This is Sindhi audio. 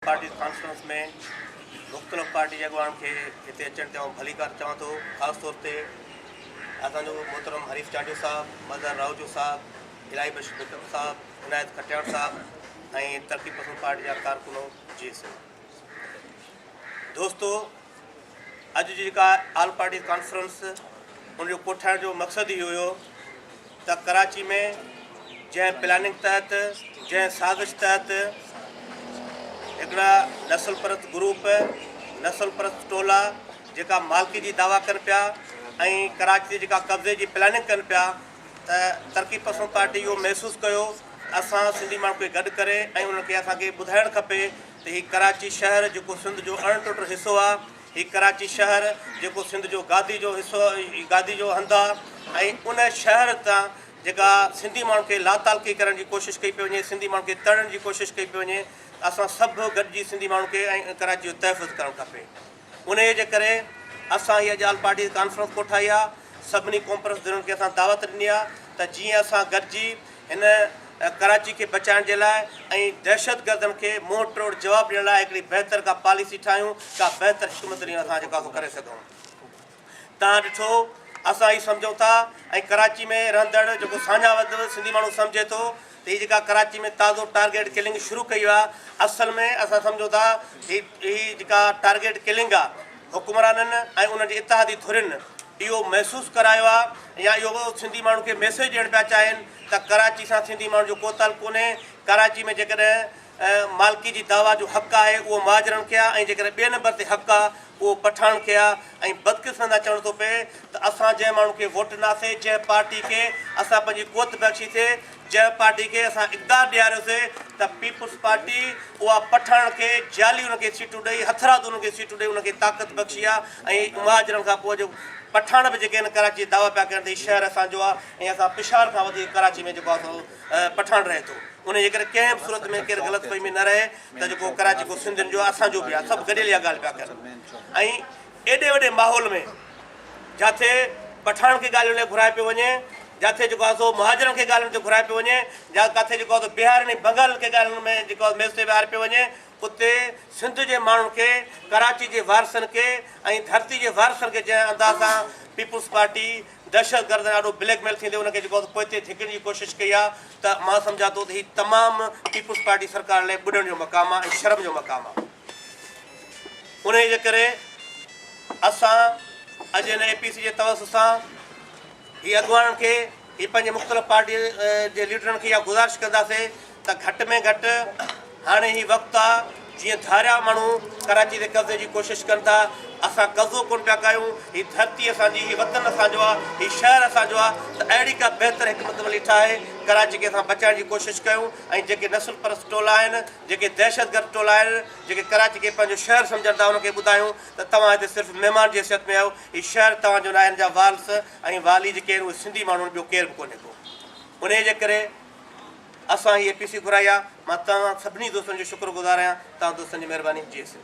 پارٽيز ڪانفرنس ۾ مختلف پارٽي جي اڳواڻن کي هتي اچڻ تي آئون ڀليڪار چوان ٿو، خاص طور تي اسان جو محترم حريف چانڊيو صاحب، مظهر راهوجو صاحب، الاهي بخش بيڪم صاحب، عنايت کٽياڻ صاحب ۽ ترقي پسند پارٽي جا ڪارڪنو جي سنڌ دوستو! اڄ جي جيڪا آل پارٽيز ڪانفرنس ان جو ڪوٺائڻ جو مقصد هي هيو ته ڪراچي ۾ جنهن پلاننگ تحت جنهن سازش تحت هڪڙا نسل پرست گروپ نسل پرست ٽولا جيڪا مالڪي جي دعويٰ ڪن پيا ۽ ڪراچي جي جيڪا قبضي جي پلاننگ ڪن پيا ته ترقي پسند پارٽي اهو محسوس ڪيو اسان سنڌي ماڻهن کي گڏ ڪري ۽ ان کي اسان کي ٻڌائڻ کپي ته هي ڪراچي شهر جيڪو سنڌ جو اڻ ٽٽ حصو آ، هي ڪراچي شهر جيڪو سنڌ جو گادي جو حصو گادي جو هنڌ آ ۽ ان شهر تان جيڪا سنڌي ماڻهن کي لاتعلقي ڪرڻ جي ڪوشش ڪئي پئي وڃي، سنڌي ماڻهن کي تڙڻ جي ڪوشش ڪئي پئي وڃي ته اسان سڀ گڏجي سنڌي ماڻهن کي ۽ ڪراچي جو تحفظ ڪرڻ کپي. انهيء جي ڪري اسان هيء ڄال پارٽيز ڪانفرنس ڪوٺائي آهي، سڀني ڪونپرس ڌرين کي اسان دعوت ڏني آهي ته جيئن اسان گڏجي هن ڪراچي کي بچائڻ جي لاء ۽ دهشتگردن کي منهن ٽوڙ جواب ڏيڻ لاء هڪڙي بهتر ڪا پاليسي ٺاهيون، ڪا بهتر حڪمت عليون اسان جيڪو آهي سو ڪري سگهون. تان ڏٺو اسان هي سمجهون ٿا ۽ ڪراچي ۾ رهندڙ جيڪو ساڃاهه وڌ سنڌي ماڻهو سمجهي ٿو ته هي جيڪا ڪراچي ۾ تازو ٽارگيٽ ڪلنگ شروع ڪئي آ اصل ۾ اسان سمجهون ٿا هي هي جيڪا ٽارگيٽ ڪلنگ آ حڪمرانن ۽ انهن جي اتحادي ڌرين اهو محسوس ڪرايو آ يا اهو سنڌي ماڻهن کي ميسيج ڏيڻ پيا چاهين ته ڪراچي سان سنڌي ماڻهن جو ڪو تعلق ڪونهي ڪراچي ۾ جيڪڏهن مالڪي جي دعويٰ جو حق آهي اهو مهاجرن کي آ ۽ جيڪڏهن ٻئي نمبر تي حق آ اهو پٺاڻ کي آ ۽ بدقسمت آ چوڻ ٿو پئي ته اسان جنهن ماڻهو کي ووٽ ڏناسي جنهن پارٽي کي اسان پنهنجي قوت بخشي سي جنهن پارٽي کي اسان اقدار ڏياريو سي ته پيپلز پارٽي اها پٺاڻن کي جعلي انهن کي سيٽون ڏئي هٿرادو انهن کي سيٽون ڏئي انهن کي طاقت بخشي آ ۽ مهاجرن کان پوء جو پٺاڻ به جيڪي آهن ڪراچي جي دعويٰ پيا ڪرن ته هي شهر اسان جو آ ۽ اسان پشاور کان وڌيڪ ڪراچي ۾ جيڪو آ سو پٺاڻ رهي ٿو انهي جي ڪري ڪنهن به صورت ۾ ڪير غلط فهمي نه رهي. ته جيڪو ڪراچي ڪو سنڌين جو اسان جو به آ سڀ گڏيل اها ڳالهه پيا ڪن ۽ ايڏي وڏي ماحول ۾ جاٿي پٺاڻ کي ڳالهين لاء گهرائي پيو وڃي جاٿي جيڪو آ سو مهاجرن کي ڳالهين تي گهرائي پيو وڃي جا ڪاٿي جيڪو آ سو بهارين ۽ بنگالن کي ڳالهين ۾ جيڪو آ ميز تي ويهاري پيو وڃي اتي سنڌ جي ماڻهن کي ڪراچي جي وارثن کي ۽ ڌرتي جي وارثن کي جنهن انداز سان پيپلز پارٽي دهشتگردن آڏو بليڪ ميل ٿيندي ان کي جيڪو آهي سو پوئتي ڌڪيڻ جي ڪوشش ڪئي آهي ته مان سمجهان ٿو ته هي تمام پيپلز پارٽي سرڪار لاء ٻڏڻ جو مقام آهي ۽ شرم جو مقام آهي انهي جي ڪري اسان اڄ هن اي پي سي جي توس سان هي اڳواڻن کي هي پنهنجي مختلف پارٽي جي ليڊرن کي اها گذارش ڪنداسين ته گهٽ ۾ گهٽ هاڻي هي وقت آ جيئن ڌاريا ماڻهو ڪراچي تي قبضي جي ڪوشش ڪن ٿا اسان قبضو ڪونه پيا ڪايون هي ڌرتي اسان جي هي وطن اسان جو آ هي شهر اسان جو آ ته اهڙي ڪا بهتر حڪمت عملي ٺاهي ڪراچي کي اسان بچائڻ جي ڪوشش ڪيون ۽ جيڪي نسل پرست ٽولا آهن جيڪي دهشت گرد ٽولا آهن جيڪي ڪراچي کي پنهنجو شهر سمجهن ٿا انهن کي ٻڌايون ته توهان هتي صرف مهمان جي حيثيت ۾ آهيو هي شهر توهان جو ناهي هن جا وارث ۽ والي جيڪي آهن اهي سنڌي ماڻهو آهن ٻيو ڪير به ڪونهي ڪو انهي جي ڪري اسان هي اي پي سي گهرائي آ مان توهان سڀني دوستن جو شڪر گذار آهيان توهان دوستن جي مهرباني جي سنڌ.